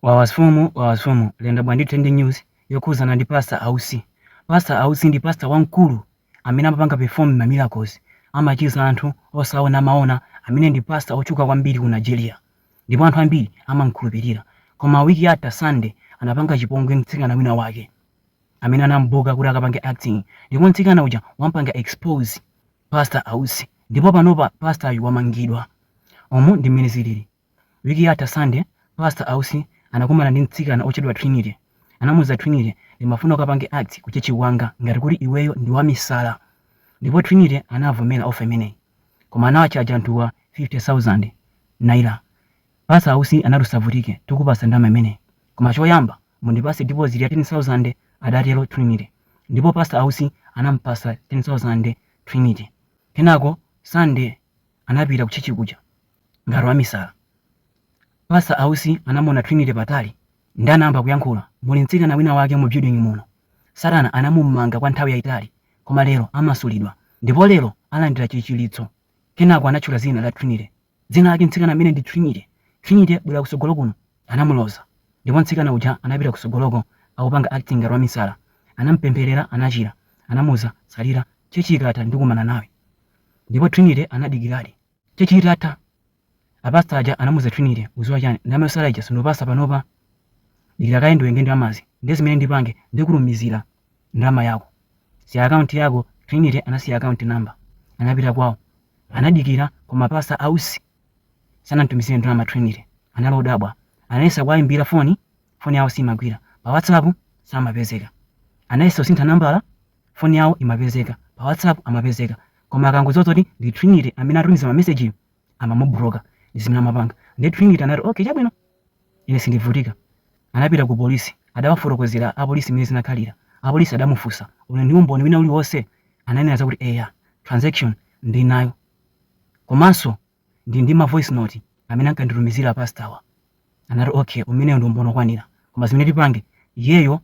Wawasfumu Wawasfumu lenda bwa ndi trending news yokhuzana ndi pastor ausi pastor ausi ndi pastor wamkulu amene amapanga perform ma miracles amachiza anthu osaona amaona amene ndi pastor otchuka kwambiri ku Nigeria ndipo anthu ambiri amamkhulupirira koma week yatha Sunday anapanga chipongwe mtsikana wina wake amene anam'buka kuti akapange acting ndipo mtsikana uja wampanga expose pastor ausi ndipo panopa pastoryu wamangidwa umu ndi mmene zilili. Wiki yatha Sunday, Pastor Ausi anakumana ndi mtsikana otchedwa Trinity. Anamuuza Trinity, ndimafuna ukapange act ku church kwanga ngati kuti iweyo ndi wamisala. Ndipo Trinity anavomera offer imeneyi. Koma anawachaja anthuwa 50,000 Naira. Pastor Ausi anati usavutike, tikupasa ndalama imeneyi. Koma choyamba mundipase deposit ya 10,000 adatero Trinity. Ndipo Pastor Ausi anamupasa 10,000 Trinity. Kenako Sunday anapita ku church kuja. ngati wamisala. Pastor Ausi anamuona Trinity patali ndi anayamba kuyankhula, muli mtsikana wina wake mu building muno. Satana anamumanga kwa nthawi yayitali koma lero amasulidwa ndipo lero alandira chichiritso. Kenako anatchula zina la Trinity. Dzina lake mtsikana ameneyu ndi Trinity. Trinity bwera kusogolo kuno. Anamuloza ndipo mtsikana uja anapita kusogoloko akupanga acting ngati wamisala. Anamupemphelera anachira. Anamuuza tsalira church ikatha ndikumana nawe. Ndipo Trinity anadikiradi. Church itatha, a pastor aja anamuuza Trinity, uziwa chani, ndalama yotsala ija sindikupasa panopa, dikira kaye ndiwerenge ndalamazi, nde zimene ndipange ndikutumizira ndalama yako, siya account yako, Trinity anasiya account number, anapita kwawo, anadikira koma pastor Ausi sanamtumizire ndalama Trinity, anali odabwa, anayesa kuwayimbira foni, foni yawo simagwira, pa WhatsApp samapezeka, anayesa kusintha nambala, phone yawo imapezeka, pa whatsapp amapezeka koma akangodziwa zoti ndi Trinity amene atumiza ma message-wo amamubloka ndi zimene amapanga nde Trinity anati okay chabwino ine sindivutika anapita ku polisi adawafotokozera apolisi mmene zinakhalira apolisi adamufunsa uli ndi umboni wina uliwonse ananena zakuti eya transaction ndinayo komanso ndi ndi ma voice note amene ankanditumizira pastawa anati okay umeneyo ndi umboni okwanira koma zimene tipange iyeyo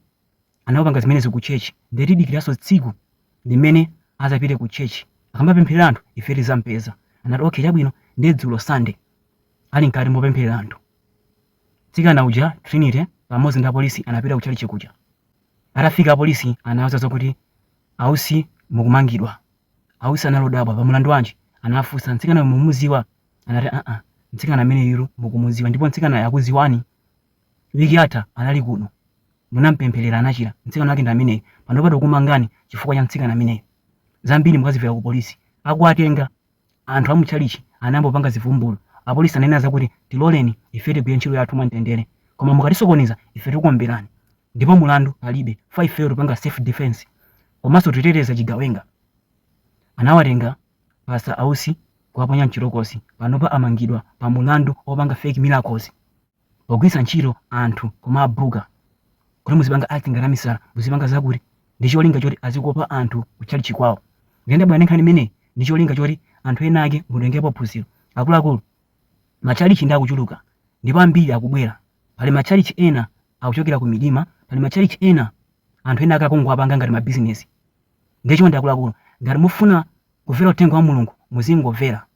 anapanga zimenezi ku church ndiye tidikiranso tsiku limene azapite ku church akamapempherera anthu ife tizampeza anati okay chabwino ndiye dzulo sunday ali mkati mopempherera anthu mtsikana uja trinity pamodzi ndi apolisi anapita ku chalichi kuja atafika apolisi anawauza zokuti ausi mukumangidwa ausi anali odabwa pa mulandu wanji anafunsa mtsikana mumuziwa anati aa mtsikana ameneyu mukumuziwa ndipo mtsikana akuziwani Wiki yatha anali kuno. Munampempherera anachira. Mtsikana wake ndi ameneyu. Panopa tikukumangani chifukwa cha mtsikana ameneyu. Zambiri mukazivera kupolisi. Akuwatenga. Anthu a mu tchalitchi anayamba kupanga zivumbulu. Apolisi ananena zakuti, Tiloleni ife tigwire ntchito yathu mwamtendere. Koma mukatisokoneza, ife tikuwomberani. Ndipo mlandu palibe chifukwa ifeyo tikupanga self defense komanso tikuteteza chigawenga. Anawatenga Pastor Ausi n'kuwaponya m'chitokosi. Panopa amangidwa pa mlandu wopanga fake miracles. pogwiritsa ntchito anthu kumabooker kuti muzipanga acting ngati amisala muzipanga zakuti ndi cholinga choti azikopa anthu kutchalitchi kwawo ndiye ndabwera ndi nkhani imeneyi ndi cholinga choti anthu ena ake mutengepo phunziro akuluakulu matchalitchi ndi akuchuluka ndipo ambiri akubwera pali matchalitchi ena akuchokera ku midima pali matchalitchi ena anthu ena ake akungowapanga ngati mabizinesi ndiye chonde akuluakulu ngati mufuna kumvera uthenga wa mulungu muzingomvera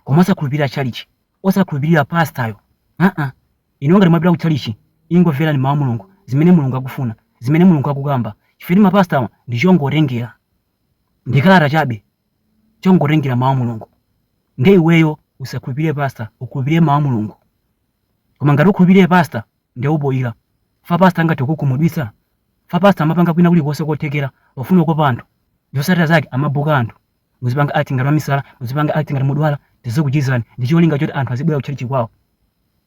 koma osakhulupirira tchalitchi osakhulupirira pastor-yo aa inuyo ngati mwapita ku chalichi ingomverani mawu a mulungu zimene mulungu akufuna zimene mulungu akukamba chifukwa ma pastor-wa ndi chongotengera ndi kalata chabe chongotengera mawu a mulungu nde iweyo usakhulupirire pastor ukhulupirire mawu a mulungu koma ngati ukhulupirire pastor nde uboyira fa pastor angathe kukukhumudwitsa fa pastor amapanga kuna kulikonse kothekera pofuna kukopa anthu zosatira zake amabuka anthu muzipanga acting ngati wamisala muzipanga acting ngati mudwala tizokuchizani ndi cholinga choti anthu azibwera kutchalitchi kwawo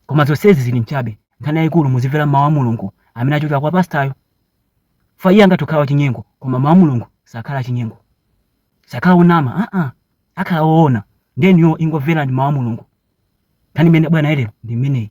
koma zonsezi zili mchabe nkhani yayikulu muzimvera mawu a mulungu amene achokera kwa pastayo fa iye angathe kukhala wachinyengo koma mawu a mulungu sakhala achinyengo sakhala onama aa akhala oona nde inuyo ingomverani mawu a mulungu nkhani imene ndabwera nayo lero ndi imeneyi